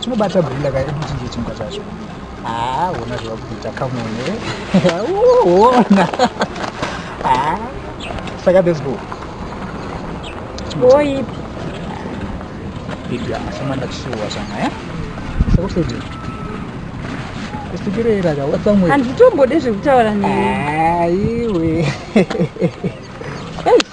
chinobata gorilla ka ekuchinje chimka chacho haa ona zvava kuita kamone ona haa saka let's go oipi ipiasamanda chisuwa changa ya sakusodii kusikireira ka watsamwe handitombode zvekutaura neiwe eish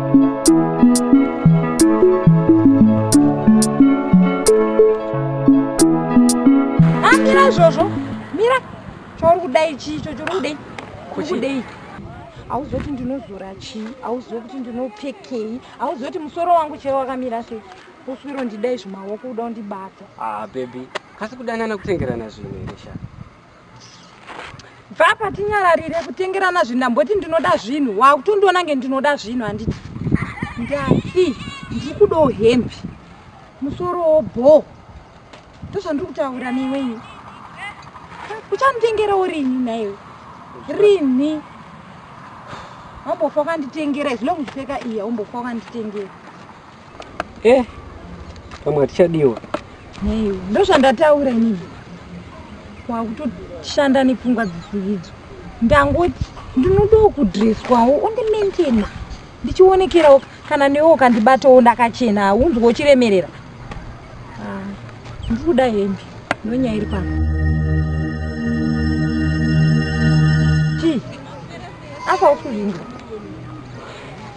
amira izvozvo mira chauri kudai chii icho chiri kudei kuri kudei hauzive kuti ndinozora chii hauzive kuti ndinopfekei hauzive kuti musoro wangu chero wakamira sei uswiro ndidai zvimaoko kuda kundibata ah bebi kasi kudanana kutengerana zvinhu here shaa bva apa tinyararire kutengerana zvinhu ndamboti ndinoda zvinhu wakutondiona nge ndinoda zvinhu handiti ndati ndiri kudawo hembe musorowo bho ndozvandiri kutaura newenyu uchanditengerawo rini naiwe rini wambofa wakanditengera izvino kuzipfeka iya wambofa wakanditengera Eh, pamwe hatichadiwa. Nei, ndozvandataura inini. Wakutoshanda nepfungwa dzisidzo. Ndangoti ndinodawo kudreswawo undimaintainer. Ndichionekerawo kana newe ukandibatawo ndakachena haunzwe uchiremerera. Ah, ndiri kuda hembe ndonyaya iri pano. Chii? Apa usuzvinga.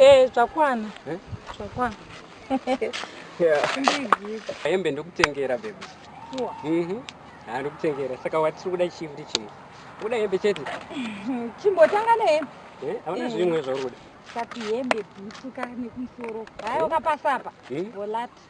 Eh, zvakwana. Eh? Zvakwana. Hembe ndokutengera baby. Sure. Mhm. Mm ah, ndokutengera. Saka watiri kuda chii kuti chimwe? Kuda hembe chete. Chimbotanga nehembe. Eh, hauna eh. zvimwe zvauri kuda. Kati hembe bhutu ka nekumusoro. Hayo eh? kapasapa. Volati. Hmm?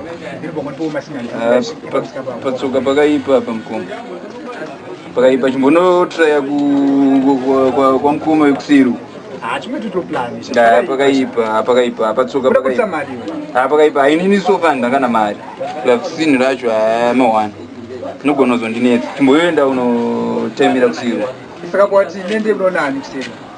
Ah, pa- patsoka pakaipa apa mukoma pakaipa chimbonotraya kwamukoma wekusiru Ah, pakaipa ah, pakaipa ah, patsoka pakaipa Ah, pakaipa hainini so far ndangana mari plus sinhu racho hamawani inogona kuzondinetsa chimboyoenda unotaimira kusiru saka kwati nende unoona ani kuseri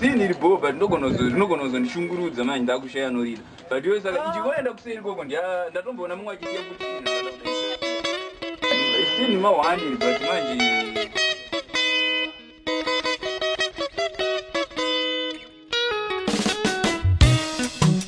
Zii ndiri bho but ndogona kuzo rinogona kuzondishungurudza manje ndakushaya anorida but iwe saka ndingoenda kuseri koko ndia- ndatomboona mumwe achiziva kuti chinhu ndakada kuda izvi. Zii ndima one iri but manje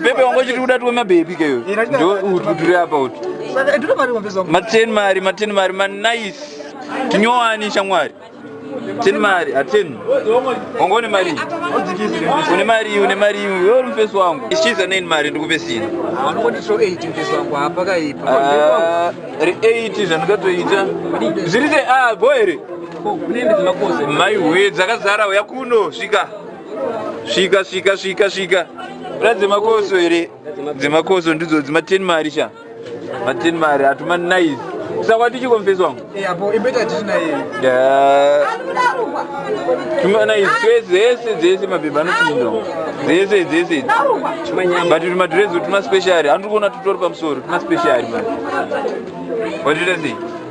bebe wangu chiri kuda tiwe mabhebi keyo ndo utu tiri apa utu maten mari maten mari manice tinyowani shamwari ten mari aten wangu une mari une mari une mari uri mufesi wangu ichiza neni mari ndikupe sina re 8 zvandikatoita zviri se a ah, go here maiwe dzakazara uya kuno svika svika svika svika svika ra dzemakoso here dzemakoso ndidzo dzima ten mari sha ma ten mari hatuma nice sakwa tichikomfesi wangu tuma nice dzese dzese mabhebha anopinda dzese dzese but tuma dredzo tuma special handiri kuona tutori pamusoro tuma special mani watoita sei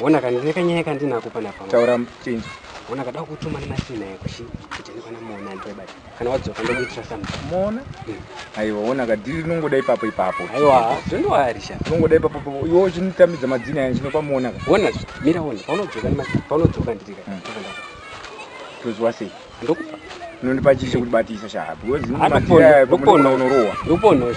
Wona kana ndine kanyaya kandinako panapa. Taura chinzi. Wona kada kutuma nemasina yako shi kuti ndikwana muona ndibati. Kana wadzoka ndokuitira something. Muona? Hmm. Aiwa wona ka dili nongoda ipapo ipapo. Aiwa, don't worry sha. Nongoda ipapo ipapo. Iwo chinitamidza madzina yangu chinopa muona ka. Wona zvi. Mira wona. Paunodzoka nemasina. Paunodzoka ndiri ka. Hmm. Tozwa sei? Ndokupa. Nondipa chichi kuti batisa sha. Because ndinopa. Ndokuona. Ndokuona. Ndokuona. Ndokuona.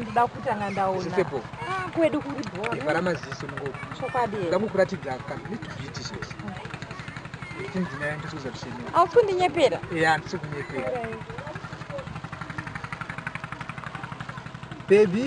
ndoda kutanga ndaonakwedu ah, kuri bhora maziso chokwadi ndakukuratidza aufundinyepera ya ndisikunyepera baby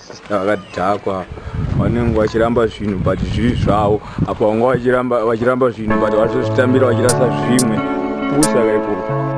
Sister vakadhakwa vanenge vachiramba zvinhu but zviri zvavo apo vanga vachiramba vachiramba zvinhu but vachozvitambira vachirasa zvimwe pusa kaikoko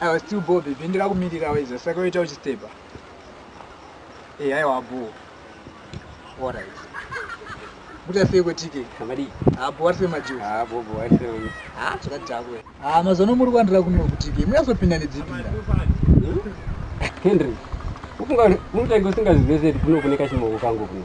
I was too bored baby ndikakumirira weza saka uita uchistepa e eh, aiwa boo alright kuita sei kwetike amadii abo wari semajuzi abo bo wari sei ha chakati chako ha mazono muri kwandira kuno kutike muyazopinda nedzipinda hmm? henry ufunga munotange usingazive seti kuno kune kachimoko kangu kuno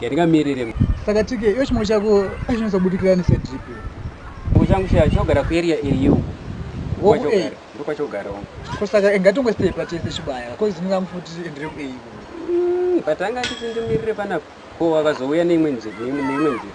yandingamirire saka tike iyo chimwe chako chinonatsa kubudikira nesedrip chimwe changu chaya chinogara kuarea area uku Woku-A? ndokwachogara uku ko saka ngatongo stepa tese chibaya ko zvinongamu futi endere kuei Mm, but anga nditi ndimirire panapa ko wakazouya neimwe nzira neimwe nzira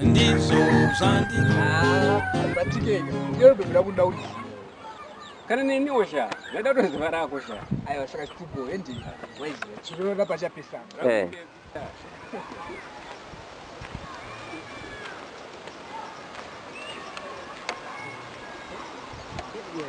ndizvo zvandiabatikeka ndinobvira kunda kuti kana neniwo sha ndaida kutoziva rako sha aiwa saka chitupo hendi waiziva chirora pachapesana eh. Yeah.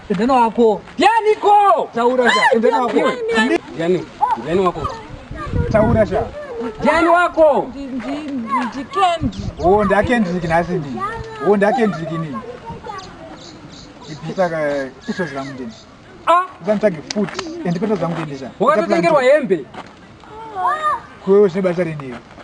Endana wako. Yani ko. Taura sha. Endana wako. Yani. Yani wako. Taura sha. Yani wako. Ndi ndi ndi Kendrick. Oh, nda Kendrick nasi ndi. Oh, nda Kendrick ni. Ipisa ka iso zvangu ndi. Ah, zantage food. Endipeta zangu ndi sha. Wakatotengerwa hembe. Kwewe zvine basa renei?